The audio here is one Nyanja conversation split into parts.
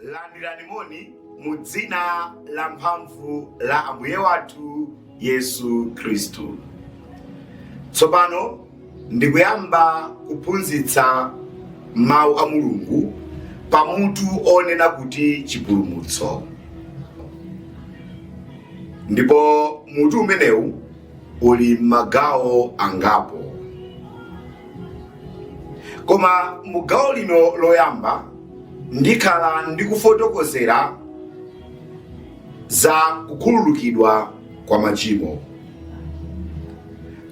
Landirani moni mu dzina la mphamvu la Ambuye wathu Yesu Khristu. Tsopano ndikuyamba kuphunzitsa mawu a Mulungu pa mutu onena kuti chipulumutso. Ndipo mutu umenewu uli m'magawo angapo. Koma mu gawo lino loyamba ndikhala ndikufotokozera za kukhululukidwa kwa machimo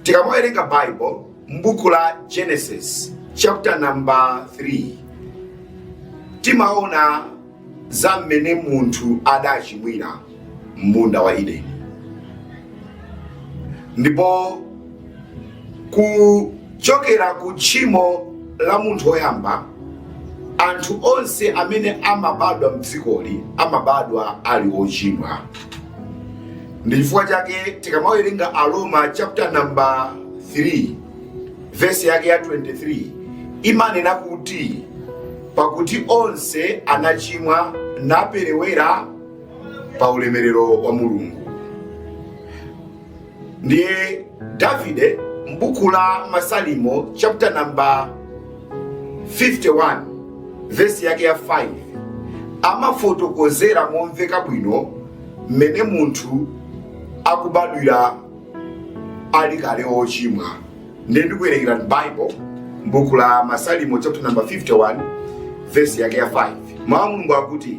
tikamawerenga bible m'buku la genesis chapter number 3 timaona za mmene munthu adachimwira m'munda wa Edeni ndipo kuchokera ku tchimo la munthu woyamba anthu onse amene amabadwa mdzikoli amabadwa ali ochimwa ndi chifukwa chake tikamawerenga aroma chapter number 3 vesi yake ya 23 imanena kuti pakuti onse anachimwa naperewera pa ulemerero wa mulungu ndiye davide m'buku la masalimo chapter number 51 vesi yake ya 5 amafotokozera momveka bwino mmene munthu akubadwira ali kale ochimwa ndiye ndikuwerengera bible m'buku la masalimo chapter number 51 vesi yake ya 5 mawu a mulungu akuti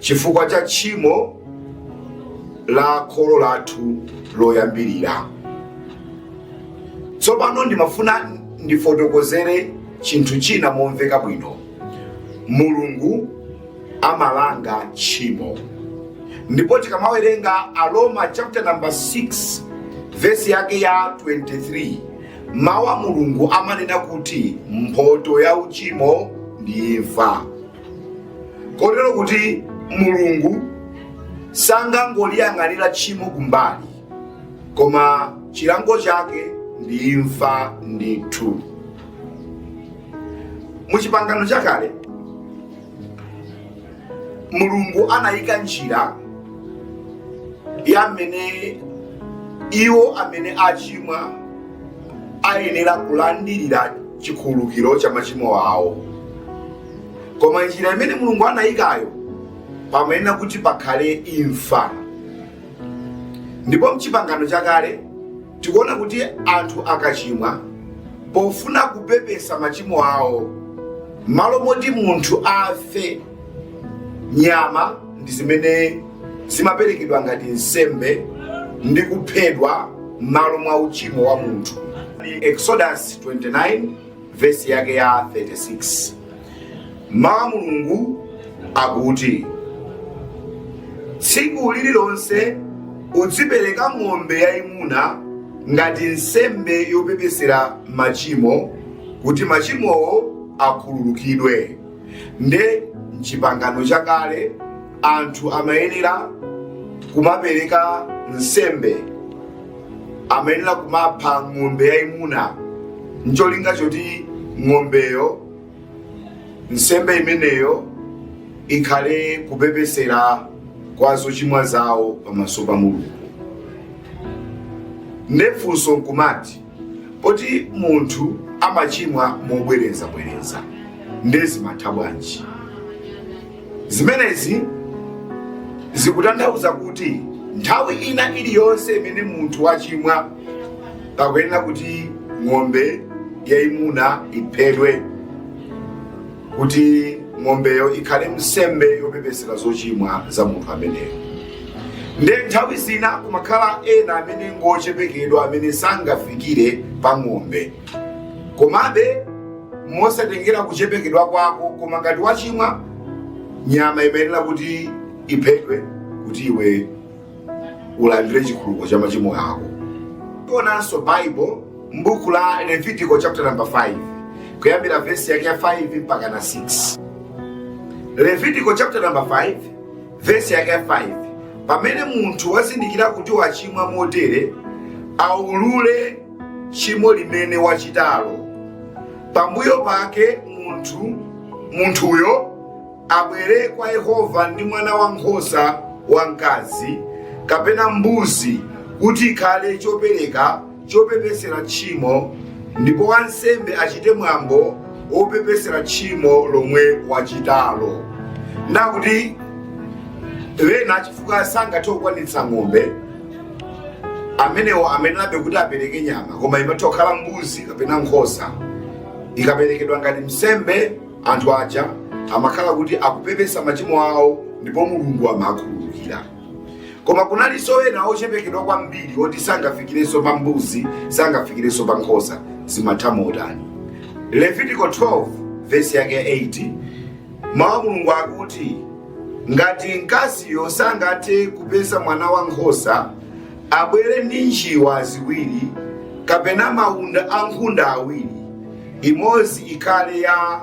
chifukwa cha tchimo la kholo lathu loyambirira. Tsopano ndimafuna ndifotokozere chinthu china momveka bwino. Mulungu amalanga tchimo. Ndipo tikamawerenga Aroma chapter number 6 vesi yake ya 23 mawu a Mulungu amanena kuti mphotho ya uchimo ndi imfa. kotero kuti mulungu sangangoliyang'anira tchimo kumbali koma chilango chake ndi imfa ndithu mu chipangano chakale mulungu anayika njira ya mmene iwo amene achimwa ayenera kulandirira chikhululukiro cha machimo awo koma njira imene mulungu anayikayo pamayenera kuti pakhale imfa ndipo mchipangano chakale tikuona kuti anthu akachimwa pofuna kupepesa machimo awo malo moti munthu afe nyama ndi zimene zimaperekedwa ngati nsembe ndi kuphedwa m'malo mwa uchimo wa munthu exodus 29 vesi yake ya 36 mawu a mulungu akuti tsiku lililonse udzipereka ng'ombe yayimuna ngati nsembe yopepesera machimo kuti machimowo akhululukidwe nde mchipangano chakale anthu amayenera kumapereka nsembe amayenera kumapha ng'ombe yayimuna ncholinga choti ng'ombeyo nsembe imeneyo ikhale kupepesera kwa zochimwa zawo pamaso pa mulungu nde funso nkumati poti munthu amachimwa mobwerezabwereza nde zimatha bwanji zimenezi zikutanthauza kuti nthawi ina iliyonse imene munthu wachimwa pakuyenera kuti ng'ombe yayimuna iphedwe kuti ng'ombeyo ikhale nsembe yopepesera zochimwa za munthu ameneyo nde nthawi zina kumakhala ena amene ngochepekedwa amene sangafikire pa ng'ombe komabe mosatengera kuchepekedwa kwako koma ngati wachimwa nyama imayenera kuti iphedwe kuti iwe ulandire chikhululuko cha machimo ako tionanso bible m'buku la levitiko chapter number 5 kuyambira vesi yake ya 5 mpaka na 6 levitiko chapter number 5 vesi yake ya 5 pamene munthu wazindikira kuti wachimwa motere aulule tchimo limene wachitalo pambuyo pake munthu munthuyo abwere kwa yehova ndi mwana wa nkhosa wamkazi kapena mbuzi kuti ikhale chopereka chopepesera tchimo ndipo wansembe achite mwambo wopepesera tchimo lomwe wachitalo ndakuti ena chifukwa sangathe kukwanitsa ng'ombe amenewo amayenera kuti apereke nyama koma imatha kukhala mbuzi kapena nkhosa ikaperekedwa ngati nsembe anthu aja amakhala kuti akupepesa machimo awo ndipo mulungu amakhululukira koma kunalinso ena ochepekedwa kwambiri oti sangafikirenso pa mbuzi sangafikirenso pa nkhosa zimatha motani levitiko 12 vesi yake 8 mawu a mulungu akuti ngati mkaziyo sangathe kupeza mwana wa nkhosa abwere ndi njiwa ziwiri kapena maunda a nkhunda awiri imodzi ikhale ya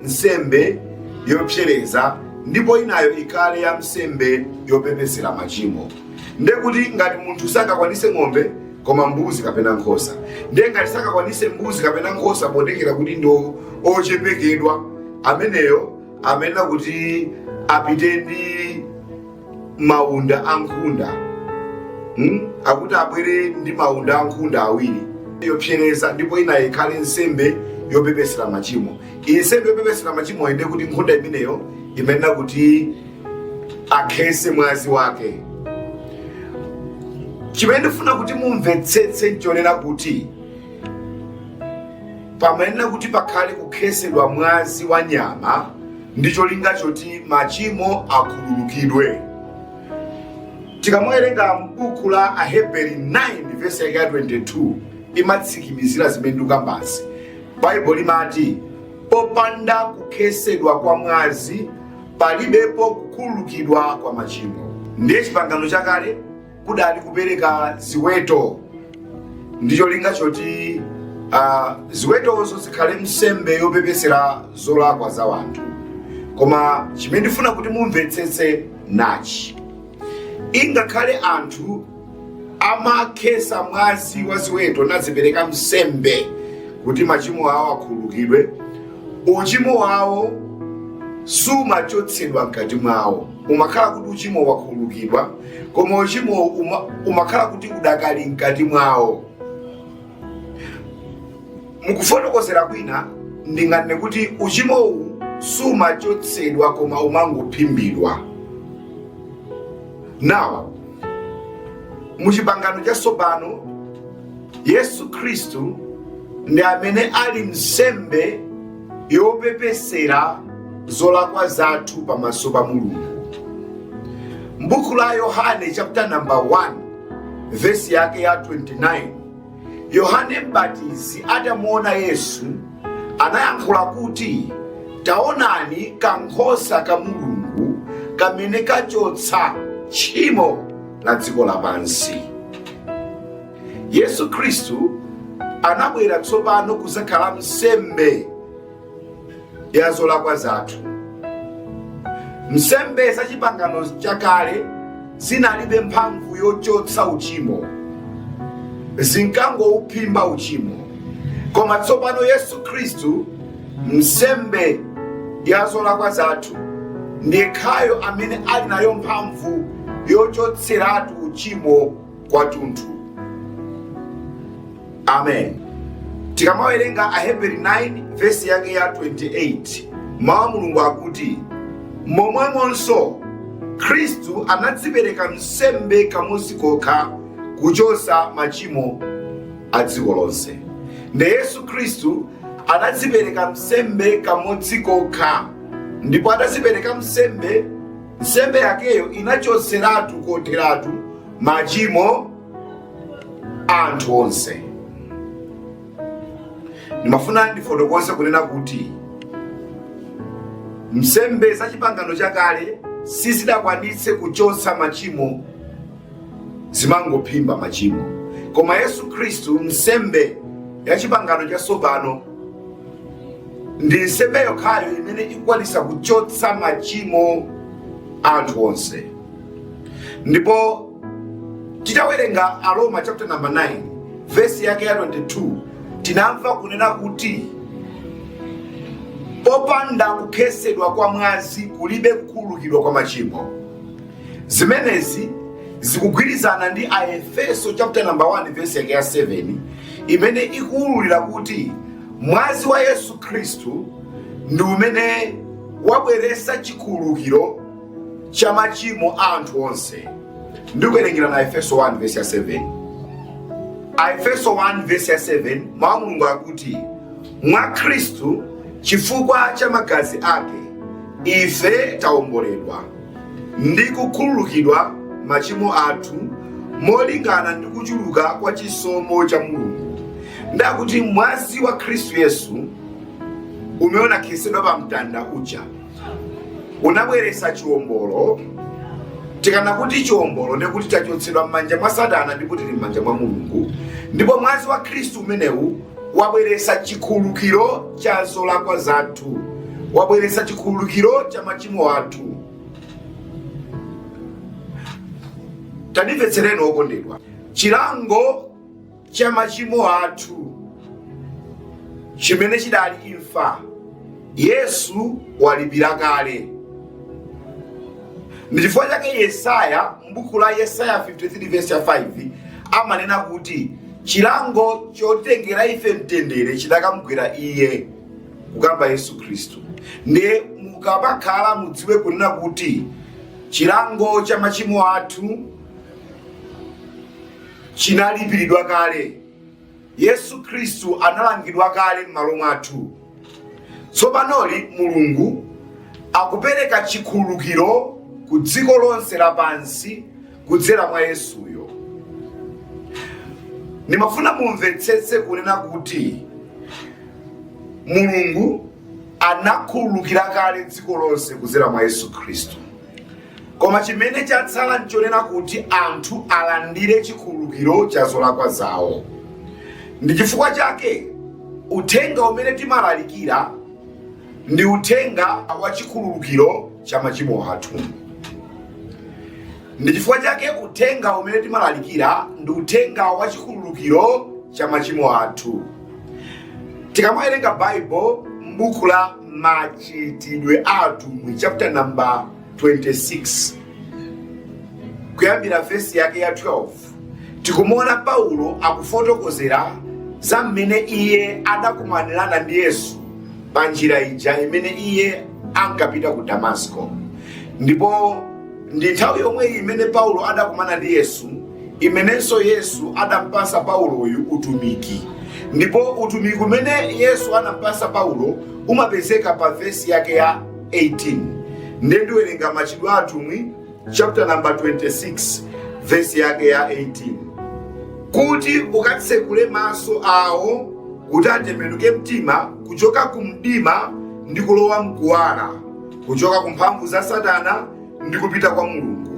nsembe yopsereza ndipo inayo ikhale ya nsembe yopepesera machimo ndekuti ngati munthu sangakwanise ng'ombe koma mbuzi kapena nkhosa ndiye ngati sangakwanise mbuzi kapena nkhosa potengera kuti ndi ochepekedwa ameneyo amayenera kuti apite ndi maunda a nkhunda hmm? akuti abwere ndi maunda a nkhunda awiri yopsereza ndipo inayo ikhale nsembe yopepesera machimo iyi nsembe yopepesera machimo nde kuti nkhunda imeneyo imayenera kuti akhese mwazi wake chimene ndifuna kuti mumvetsetse nchonena kuti pamayenera kuti pakhale kukhesedwa mwazi wa nyama ndi cholinga choti machimo akhululukidwe tikamawerenga m'buku la aheberi 9 vesi yake ya 22 imatsikimizira zimene ndikukambazi baibulo limati popanda kukhesedwa kwa mwazi palibepo kukhululukidwa kwa machimo. Ndiye chipangano chakale kudali kupereka ziweto ndi cholinga choti ah, ziwetozo zikhale nsembe yopepesera zolakwa za wanthu koma chimene ndifuna kuti mumvetsetse nachi ingakhale anthu amakhesa mwazi wa ziweto nazipereka nsembe kuti machimo awo akhululukidwe uchimo wawo siumachotsedwa mkati mwawo umakhala kuti uchimowu wakhululukidwa koma uchimo uma, umakhala kuti udakali mkati mwawo mukufotokozera kwina ndinganene kuti uchimowu siumachotsedwa koma umangophimbidwa now mu chipangano chatsopano yesu khristu ndi amene ali nsembe yopepesera zolakwa zathu pamaso pa mulungu mbuku la yohane chapter number 1 vesi yake ya 29 yohane mbatizi atamuona yesu anayankhula kuti taonani kankhosa ka mulungu kamene kachotsa tchimo la dziko lapansi yesu khristu anabwera tsopano kuzakhala nsembe ya zolakwa zathu nsembe za chipangano chakale zinalibe mphamvu yochotsa uchimo zinkangouphimba uchimo koma tsopano yesu khristu nsembe ya zolakwa zathu ndiyekhayo amene ali nayo mphamvu yochotseratu uchimo kwathunthu amen tikamawerenga aheberi 9 vesi yake ya 28 mawu a mulungu akuti momwemonso khristu anadzipereka nsembe kamodzi kokha kuchotsa machimo a dziko lonse nde yesu khristu anadzipereka nsembe kamodzi kokha ndipo atadzipereka nsembe nsembe yakeyo inachotseratu kotheratu machimo a anthu onse ndimafuna ndifotokoze kunena kuti nsembe za chipangano chakale sizidakwanitse kuchotsa machimo zimangophimba machimo koma yesu khristu nsembe ya chipangano chatsopano ndi nsembe yokhayo imene ikukwanisa kuchotsa machimo a anthu onse ndipo titawerenga aroma chapter number 9 vesi yake ya 22 tinamva kunena kuti popanda kukhetsedwa kwa mwazi kulibe kukhululukidwa kwa machimo zimenezi zikugwirizana ndi aefeso chapter number 1 vesi yake ya 7 imene ikuwululira kuti mwazi wa yesu khristu ndi umene wabweretsa chikhululukiro cha machimo a anthu onse ndikuwerengerani aefeso 1 vesi ya 7 aefeso 1 vesi ya 7 mawu a mulungu akuti mwa khristu chifukwa cha magazi ake ife taomboledwa ndi kukhululukidwa machimo athu molingana ndi kuchuluka kwa chisomo cha mulungu ndakuti mwazi wa khristu yesu umene unakhetsedwa pa mtanda uja unabweretsa chiwombolo tikanena kuti chiwombolo ndikuti tachotsedwa m'manja mwa satana ndipo tili m'manja mwa mulungu ndipo mwazi wa khristu umenewu wabweretsa chikhululukiro cha zolakwa zathu wabweretsa chikhululukiro cha machimo athu tandimvetsereni okondedwa chilango cha machimo athu chimene chidali imfa Yesu walipira kale. Ndi chifukwa chake Yesaya m'buku la Yesaya 53 verse ya 5 amanena kuti chilango chotitengera ife mtendere chidakamugwera iye kukamba Yesu Khristu. Ndiye mukamakhala mudziwe kunena kuti chilango cha machimo athu chinalipiridwa kale. Yesu Khristu analangidwa kale m'malo mwathu. Tsopanoli Mulungu akupereka chikhululukiro ku dziko lonse lapansi kudzera mwa Yesuyo. Ndimafuna mumvetsetse kunena kuti Mulungu anakhululukira kale dziko lonse kudzera mwa Yesu Khristu. koma chimene chatsala nchonena kuti anthu alandire chikhululukiro cha zolakwa zawo ndi chifukwa chake uthenga umene timalalikira ndi uthenga wa chikhululukiro cha machimo athu ndi chifukwa chake uthenga umene timalalikira ndi uthenga wa chikhululukiro cha machimo athu tikamawerenga baibulo m'buku la Machitidwe a Atumwi chapter number 26 kuyambira vesi yake ya 12 tikumuona Paulo akufotokozera za mmene iye adakumanirana ndi Yesu pa njira ija imene iye ankapita ku Damasiko ndipo ndi nthawi yomwe imene paulo adakumana ndi yesu imenenso yesu adampasa pauloyu utumiki ndipo utumiki umene yesu anampasa paulo umapezeka pa vesi yake ya 18 ndiye ndiwerenga machitidwe a atumwi chapter number 26 vesi yake ya 18 kuti ukatsekule maso awo kuti atembenuke mtima kuchoka ku mdima ndi kulowa mkuwala kuchoka ku mphamvu za satana ndi kupita kwa mulungu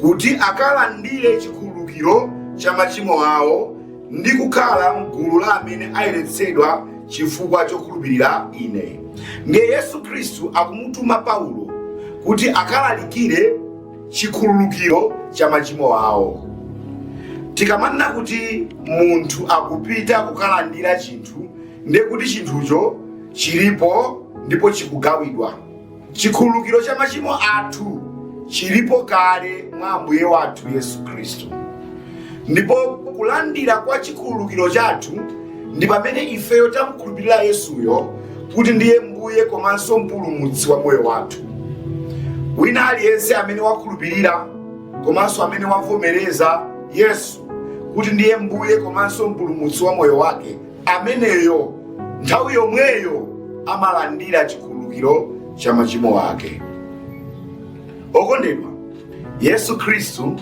kuti akalandire chikhululukiro cha machimo awo ndi kukhala mgulu la amene ayeretsedwa chifukwa chokhulupirira ine ndiye yesu khristu akumutuma paulo kuti akalalikire chikhululukiro cha machimo awo tikamanena kuti munthu akupita kukalandira chinthu ndiye kuti chinthucho chilipo ndipo chikugawidwa chikhululukiro cha machimo athu chilipo kale mwa ambuye wathu yesu khristu ndipo kulandira kwa chikhululukiro chathu ndi pamene ifeyo tamkhulupirira yesuyo kuti ndiye mbuye komanso mpulumutsi wa moyo wathu wina aliyense amene wakhulupirira komanso amene wavomereza yesu kuti ndiye mbuye komanso mpulumutsi wa moyo wake ameneyo nthawi yomweyo amalandira chikhululukiro cha machimo ake okondedwa yesu khristu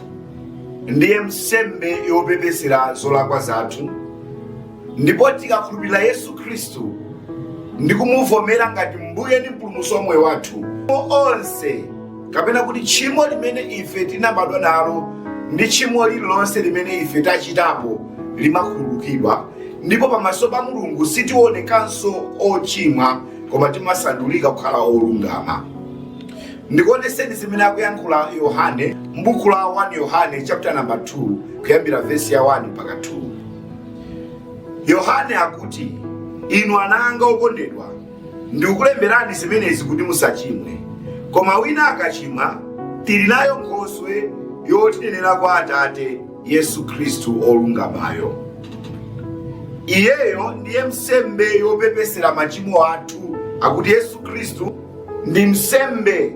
ndiye nsembe yopepesera zolakwa zathu ndipo tikakhulupirira yesu khristu ndi kumuvomera ngati mbuye ndi mpulumutsi wa moyo wathu onse kapena kuti tchimo limene ife tinabadwa nalo ndi tchimo lililonse limene ife tachitapo limakhululukidwa ndipo pamaso pa mulungu sitionekanso ochimwa koma timasandulika kukhala olungama ndikuoneseni zimene akuyankhula yohane m'buku la 1 yohane chapter number 2 kuyambira vesi ya 1 mpaka 2 yohane akuti inu ana anga okondedwa ndikukulemberani zimenezi kuti musachimwe koma wina akachimwa tili nayo nkhoswe yotinenera kwa atate yesu khristu olungamayo iyeyo ndiye nsembe yopepesera machimo athu akuti yesu khristu ndi nsembe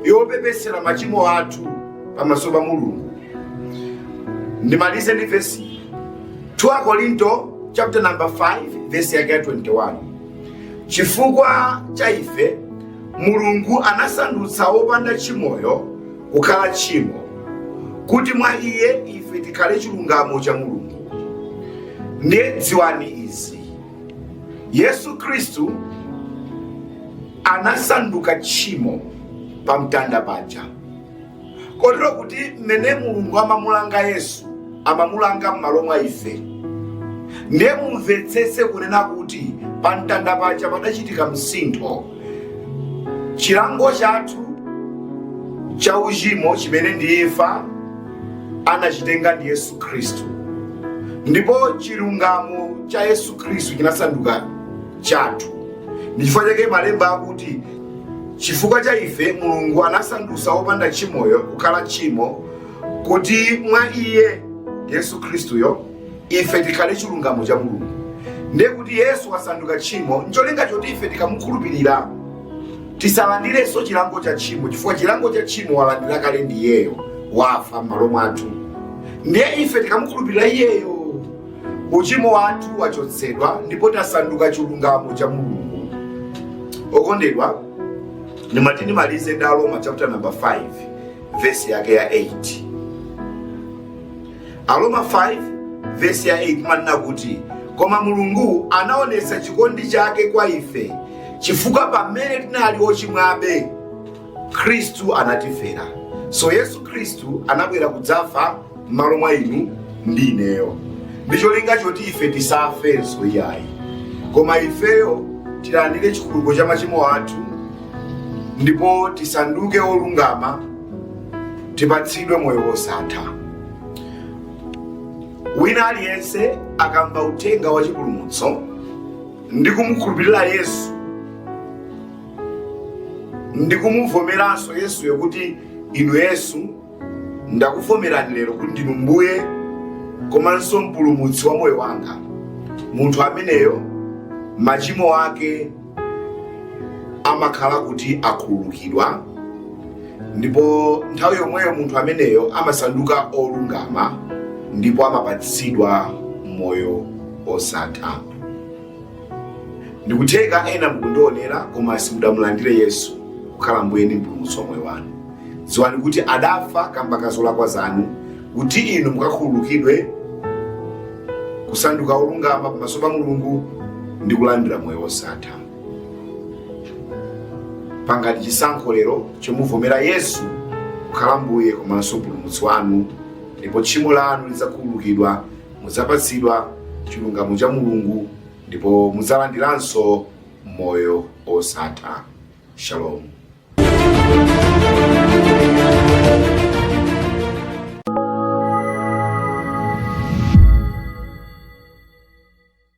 yopepesera machimo athu pamaso pa mulungu ndimalize ndi vesi 2 Akorinto chapter number 5 verse ya 21 chifukwa cha ife mulungu anasandutsa wopanda tchimoyo kukhala tchimo kuti mwa iye ife tikhale chilungamo cha mulungu ndiye dziwani izi yesu khristu anasanduka tchimo pamtanda paja kotero kuti mmene mulungu amamulanga yesu amamulanga m'malo mwa ife ndiye mumvetsetse kunena kuti pa mtanda paja padachitika msintho chilango chathu cha uchimo chimene ndi imfa anachitenga ndi yesu khristu ndipo chilungamo cha yesu khristu chinasanduka chathu ndichifukwa chake malemba akuti Chifukwa cha ife, Mulungu anasandutsa wopanda tchimoyo kukhala tchimo, kuti mwa iye, Yesu Khristuyo, ife tikhale chilungamo cha Mulungu. Ndiye kuti Yesu wasanduka tchimo ncholinga choti ife tikamukhulupirira tisalandirenso chilango cha tchimo, chifukwa chilango cha tchimo walandira kale ndi iyeyo, wafa m'malo mwathu. Ndiye ife tikamukhulupirira iyeyo uchimo wathu wachotsedwa ndipo tasanduka chilungamo cha mulungu okondedwa ndimafuna ndimalize ndi aroma chapter number 5 vesi yake ya 8 aroma 5 vesi ya 8 imanena kuti koma mulungu anaonetsa chikondi chake kwa ife chifukwa pamene tinali ochimwabe khristu anatifera so yesu khristu anabwera kudzafa m'malo mwa inu ndi ineyo ndi cholinga choti ife tisafenso iyayi koma ifeyo tilandire chikhululuko cha machimo athu ndipo tisanduke olungama tipatsidwe moyo wosatha wina aliyense akamva uthenga wa chipulumutso ndi kumukhulupirira yesu ndi kumuvomeranso yesuyo kuti inu yesu ndakuvomerani lero kuti ndinu mbuye komanso mpulumutsi wa moyo wanga munthu ameneyo machimo ake amakhala kuti akhululukidwa ndipo nthawi yomweyo munthu ameneyo amasanduka olungama ndipo amapatsidwa moyo osatha ndikutheka ena mukundionera koma simudamulandire yesu kukhala mbuye ndi mpulumutsi wa moyo wanu dziwani kuti adafa kamba ka zolakwa zanu kuti inu mukakhululukidwe kusanduka olungama pamaso pa mulungu ndi kulandira moyo wosatha pangani chisankho lero chomuvomera yesu kukhala mbuye komanso mpulumutsi wanu ndipo tchimo lanu lidzakhululukidwa mudzapatsidwa chilungamo cha Mulungu ndipo mudzalandiranso moyo osatha. Shalom.